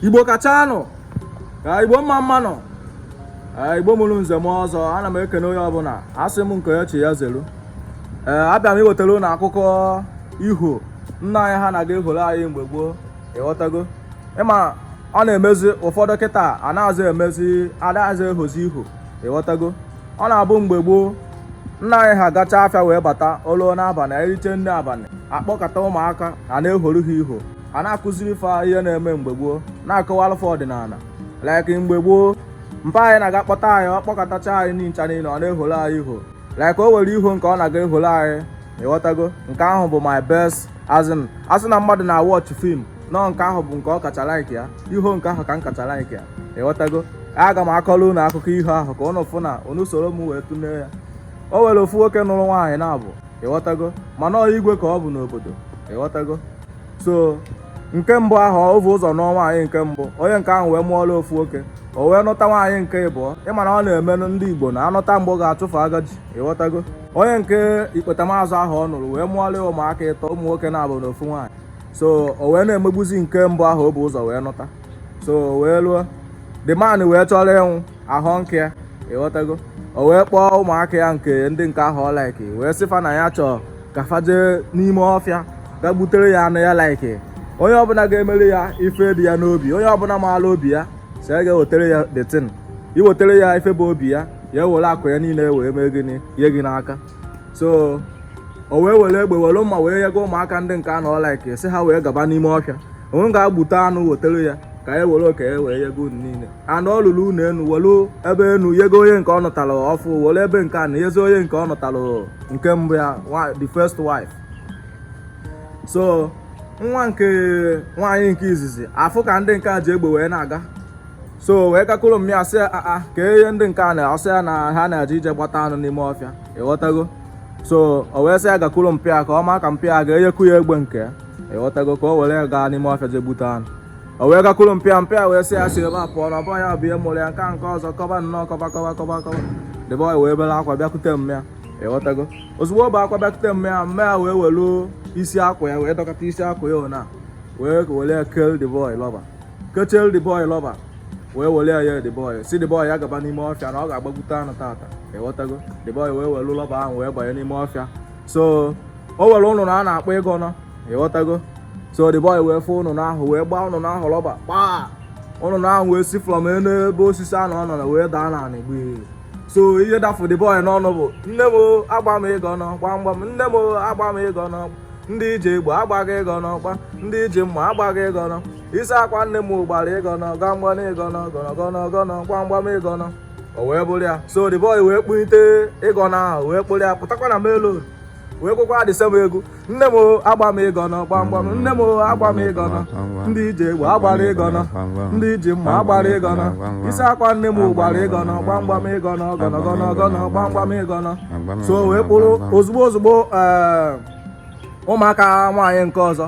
igbo kachanụ ka igbo mma mma nụ igbo mụrụ nze mụọ ọzọ ana m ekene onye ọbụla asị m nke echi ya zelu ee abịa m iwetara ụnụ akụkọ iho nna anyị ha na-aga ehoro anyị mgbe gboo ịghọtago ịma ọ na-emezi ụfọdụ kịta anaghịzi ehozi iho ịghọtago ọ na-abụ mgbe gboo nna anyị ha gacha afịa wee bata o luo n'abalị eriche nni abalị akpọkọta ụmụaka a na-ehoro ha iho a na-akụziri fa ihe na-eme mgbe gboo na-akọwalụ fa ọdịnala like mgbe gboo mpa anyị na-aga kpọta anyị ọ kpọkọtacha anyị ncha niile ọ na-eholo anyị iho like o nwere iho nke ọ na-aga eholo anyị ịghọtago nke ahụ bụ my best asị na mmadụ na-awatch film nọ nke ahụ bụ nke ọ kacha like ya iho nke ahụ ka m kacha like ya ịghọtago aga m akọrọ unu akụkọ ihe ahụ ka ụnụ fụ na unu soro m wee tụlee ya o nwere ofu nwoke nụrụ nwaanyị naabọ ịghọtago mana ọ igwe ka ọ bụ n'obodo ịghọtago so nke mbụ ahụ o bu ụzọ nụọ nwaanyị nke mbụ onye nke ahụ wee mụọla ofu nwoke o wee nụta nwaanyị nke ịbụọ ị ma na ọ na-eme ndị igbo na anụta agbọghọ achụfu agaji ịghọtago onye nke ikpetamazụ ahụ ọ nụrụ wee mụọla ya ụmụaka ịtọ ụmụ nwoke naabọ na ofu nwaanyị so o wee na-emegbuzi nke mbụ ahụ o bu ụzọ wee nụta so wee luo the man wee chọrọ ịnwụ ahụ nke ya ịghọtago o wee kpọọ ụmụaka ya nke ndị nke ahụ ọ like wee sị fa na ya chọọ ka fa jee n'ime ọfịa ga gbutere ya anụ ya like onye ọbụla ga-emere ya ife dị ya n'obi onye ọbụla maala obi ya si ya ga-ewetara ya that thing iwetara ya ife bụ obi ya ya ewere akụ ya niile wee mee gịnị nye gị n'aka so o wee were egbe were mma wee yego ụmụaka ndị nke ahụ ọ like si ha wee gaba n'ime ọfịa onye ga-egbute anụ wetara ya ka e were oke ya wee yego unu niile ana ọ lụrụ ụnọ enu welu ebe enu yego onye nke ọ nụtara ọfụụ welu ebe nke ana yezi onye nke ọ nụtara nke mbụ ya the first wife so nwa nke nwaanyị nke izizi afụ ka ndị nke a ji egbe wee na-aga so wee gakwuru mma ya sị aa ka ihe ndị nke a na-asị ya na ha na-eje ije gbata anụ n'ime ọfịa ịghọtago so o wee sị ya gakwuru mpa ya ka ọ maa ka mpa ya ga-enyekwu ya egbe nke ya ịghọtago ka o were ya gaa n'ime ọfịa je gbute anụ o wee gakwuru mpa ya mpa ya wee sị ya si ebe a pụọ na ọ bụrọ ya bụ onye mụrụ ya nke a nke ọzọ kọba nnọọ kọba kọba kọba kọba the boy wee bere akwa bịakute mma ya ịghọtago ozugbo o bu akwa bịakute mma ya mma ya wee welu isi akwa ya wee dọkọta isi akwa ya ọnụ wee were ya keelu the boy rubber kechelu the boy rubber wee were ya ye the boy si the boy ya gaba n'ime ọfịa na ọ ga-agbagbute anụ tata ịghọtago the boy wee welu rubber ahụ wee banye n'ime ọfịa so o nwere ụnụnụ a na-akpọ ịgọnọ ịghọtago so the boy wee fụ ụnụnụ ahụ wee gbaa ụnụnụ ahụ lọba kpaa ụnụnụ ahụ wee si from elu ebe osisi ahụ ọ nọ na wee daa n'anị gbee so ihe dafụ the boy n'ọnụ bụ nne m agba m ịgọnọ gbamgbam nne m agba m ịgọnọ ndị ji egbe agbaghị ịgọnọ gbam ndị ji mma agbaghị ịgọnọ isi akwa nne m gbara ịgọnọ gbamgbam ịgọnọ gọnọgọnọ gọnọ gbamgbam ịgọnọ o wee buru ya so the boy wee kpụnite ịgọnọ ahụ wee kpụrụ ya pụtakwa na main road wee kwekwaa the same egwu nne m agba m ịgọnọ gbamgbam nne m agba m ịgọnọ ndị ji egbe agbara ịgọnọ ndị ji mma agbara ịgọnọ isi akwa nne m gbara ịgọnọ gbamgbam ịgọnọ gọnọgọnọ gọnọ gbamgbam ịgọnọ so wee kpụrụ ozugbo ozugbo eh, ụmụaka nwaanyị nke ọzọ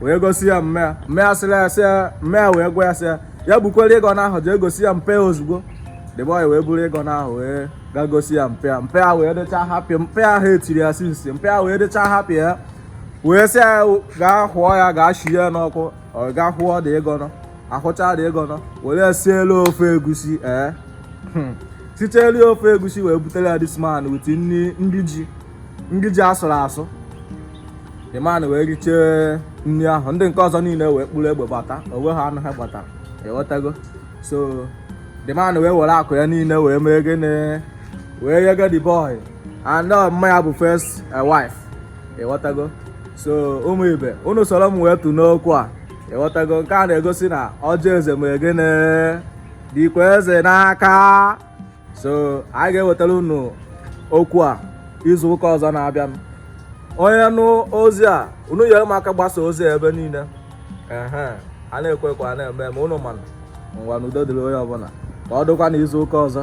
wee gosi ya mma ya mma ya sịrị ya sị mma ya wee gwa ya sị ya ya bukwere ịgọnọ ahụ jee gosi ya mpa ya ozugbo the boy wee buru ịgọnọ ahụ wee gaa gosi ya mpa ya mpa ya wee dịcha happy mpa ya hate-iri ya since mpa ya wee dịcha happy ya wee sị ya gaa hụọ ya gaa shie ya n'ọkụ ọ gaa hụọ the ịgọnọ hụchaa the ịgọnọ were sielu ofe egusi ee eh. hmm. sichelu ofe egusi wee butere ya this man with nri ji nri ji a sụrụ asụ the man wee richee nri ahụ ndị nke ọzọ niile wee kpụrụ egbe gbata onwe ha anụ ha gbatara ịghọtago so the man wee were akụ ya niile wee mee gịnị wee nyega the boy and mma ya bụ first eh, wife ịghọtago so ụmụ ibe unu soro m wee tụ n'okwu a ịghọtago nke a na-egosi na ọjị eze mee gịnị dịkwa eze n'aka so anyị ga-ewetara unu okwu a izu ụka ọzọ na-abịa onye nụ ozi a unu nyere m aka gbasa ozi a ebe niile a na-ekwu ekwu a na-eme eme unu ma nụ ngwanụ udo dịrị onye ọbụla ka ọ dịkwa na izu ụka ọzọ